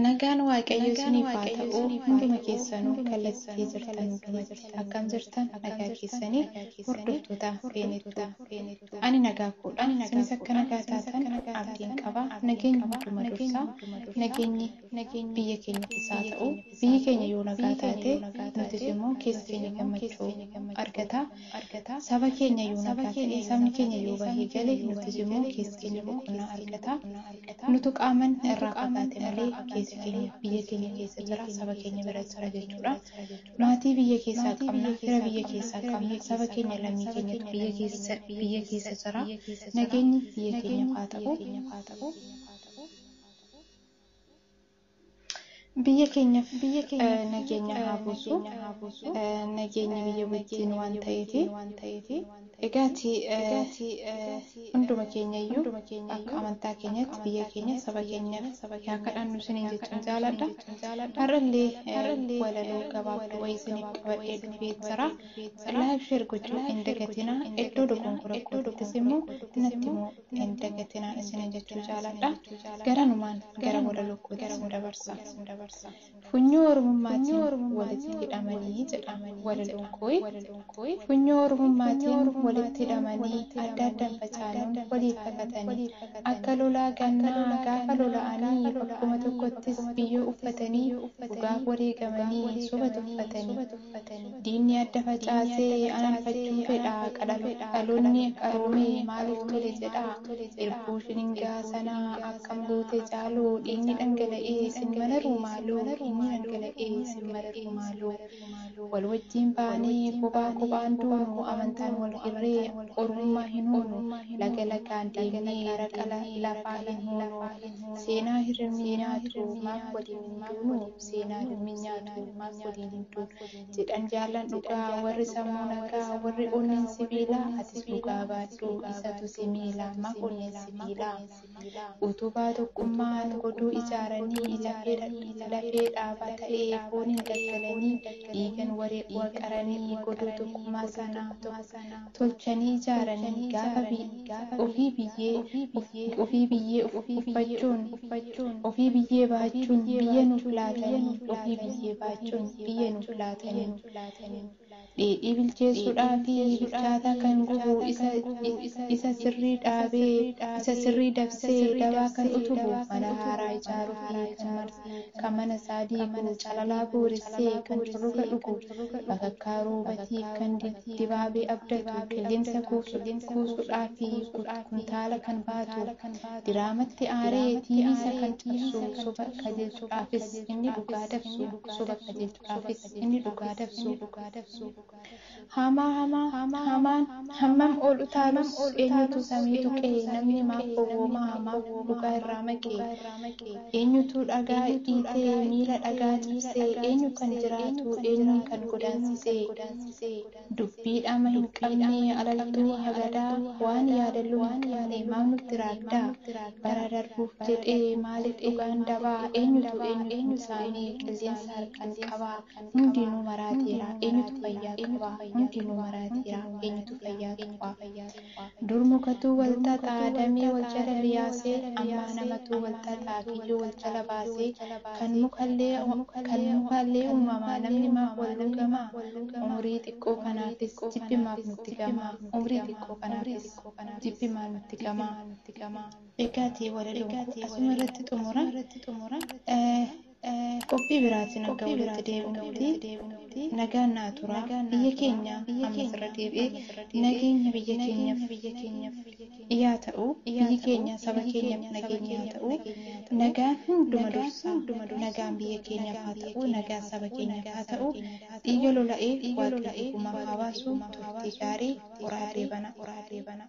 Nagaan Waaqayyo isiniif haa ta'u hunduma keessanuu kallattii jirtan hundumatti akkam jirtan nagaa keessanii hordoftoota feenettu ani nagaa koodha isinis akka nagaa taatan abdiin qaba nageenyi hunduma dursaa nageenyi Nageenyi biyya keenyattis haa ta'u, biyyi keenya yoo nagaa taate, nutis immoo keessi keenya gammachuu argata. Saba keenya yoo nagaa ta'e, sabni keenya yoo bahee gale, nutis immoo keessi keenya boqonnaa argata. Nutu qaaman irraa fagaate malee keessi keenya biyya keenya keessa jira, saba keenya bira jira jechuudha. Maatii biyya keessaa qabna, fira biyya keessaa qabna, saba keenya lammii keenyatu biyya keessa biyya keessa jira. Nageenyi biyya keenyaaf haa ta'u. Biyya keenyaf nageenya haa buusu. Nageenyi biyya wajjin waan ta'eefi. Egaati hunduma keenyayyuu akka amantaa keenyatti biyya keenya saba keenyaf yaa kadhannu isiniin jechuun jaaladha. Har'allee walaloo gabaabduu wayii isiniif qabadhee dhufee jira. Laayik sheer gochuu hin dagatinaa. Iddoo dogonkora kootiitis immoo natti himaa. hin dagatinaa isiniin jechuu jaaladha. Garanumaan gara walaloo kootti isin dabarsa. Funyoo Oromummaatiin walitti hidhamanii jedha walaloon kooyi. Funyoo Oromummaatiin walitti hidhamanii adda addan facaanuun waliif kakatanii akka lolaa gannaa gaafa lola'anii bakkuma tokkottis biyyoo uffatanii dhugaaf wareegamanii soba tuffatanii dhokfatanii. Diinni adda facaase ananfachuu fedha Dhaloonni qaroome maaliif tole jedha Irbuu shiningaa sana akkam goote Caaloo Dhiigni dhangala'ee sin mararuu maaloo Dhiigni dhangala'ee sin mararuu maaloo Wal wajjiin baanee kophaa kophaan duunu Amantaan wal hirree Oromummaa hin huunu Laga lagaan deemnee raqa lafaa hin huunu Seenaa hirribni nyaatu maaf waliin hin duunu? seenaa dammi nyaatu maaf waliin hin duunu jedhan jaallan dhugaa warri sammuu nagaa warri onneen sibiilaa atis dhugaa baadhu isatu si miila maaf onneen sibiilaa utubaa tokkummaan goduu ijaaranii lafee dhaabaa ta'ee fooniin daggalanii dhiigan wareeguun qaranii goduu tokkummaa sana tolchanii ijaaranii gaafa bi ofii biyyee uf ofii biyyee uf uffachuun ofii biyyee baachuun biyya nuuf laatanii ofii biyyee baachuun biyya nuuf laatanii dheedhii bilcheessuudhaa fi bilchaataa kan gubu isa isa sirrii dhaabee isa sirrii dabsee dabaa kan utubu mana haaraa ijaaruu fi kan kan mana isaa diigu, calalaa booressee kan curruga dhugu, bakakkaa roobatiif kan dibaabee abdatu, qilleensa kuusuudhaa fi kuntaala kan baatu, diraamatti aaree tiiviisa kan cabsu, soba qajeelchudhaafis inni dhugaa dabsu, soba qajeelchudhaafis inni dhugaa dabsu. Hamaa hamaa hamaan hammam ol utaalus Eenyutu samii tuqe namni maaf gowwooma Maaf dhugaa irraa maqe Eenyutu dhagaa dhiite miila dhagaa cabse Eenyu kan jiraatu eenyuun kan godaansise Dubbii dhama hin qabne alaltuu hagadaa Waan yaadalloo hin qabne maaf nutti raagda Bara darbuuf jedhee maaliif dhugaan daba Eenyutu eenyu kan saame qilleensa harkaan qaba. Hundinuu maraateera, eenyutu fayyaa qaba? Hundinuu maraateera, eenyutu fayyaa qaba? Dur mukatuu wal xaxa, damee wal jala liyaasee, ammaa namatuu wal xaxa, kiyyoo wal jala baasee, kan mukallee uumamaa namni maaf wal luugama? Umrii xiqqoo kanaafis jibbi maaf nutti gama? Umrii xiqqoo kanaafis jibbi maal nutti gama? Egaati walaloon koo asuma irratti xumura. Qophii biraatiin hanga walitti deebinutti nagaan naa turaa. Biyya keenya ammas irra deebi'ee nageenya biyya keenyaf yaa ta'u. Biyyi keenya saba keenyaf nageenya haa ta'u. Nagaan hunduma dursa. Nagaan biyya keenyaf haa ta'u. Nagaan saba keenyaf haa ta'u. Dhiiga lola'ee Waaqayyo gumaa haa baasu. Turtii gaarii. Ora Deebana.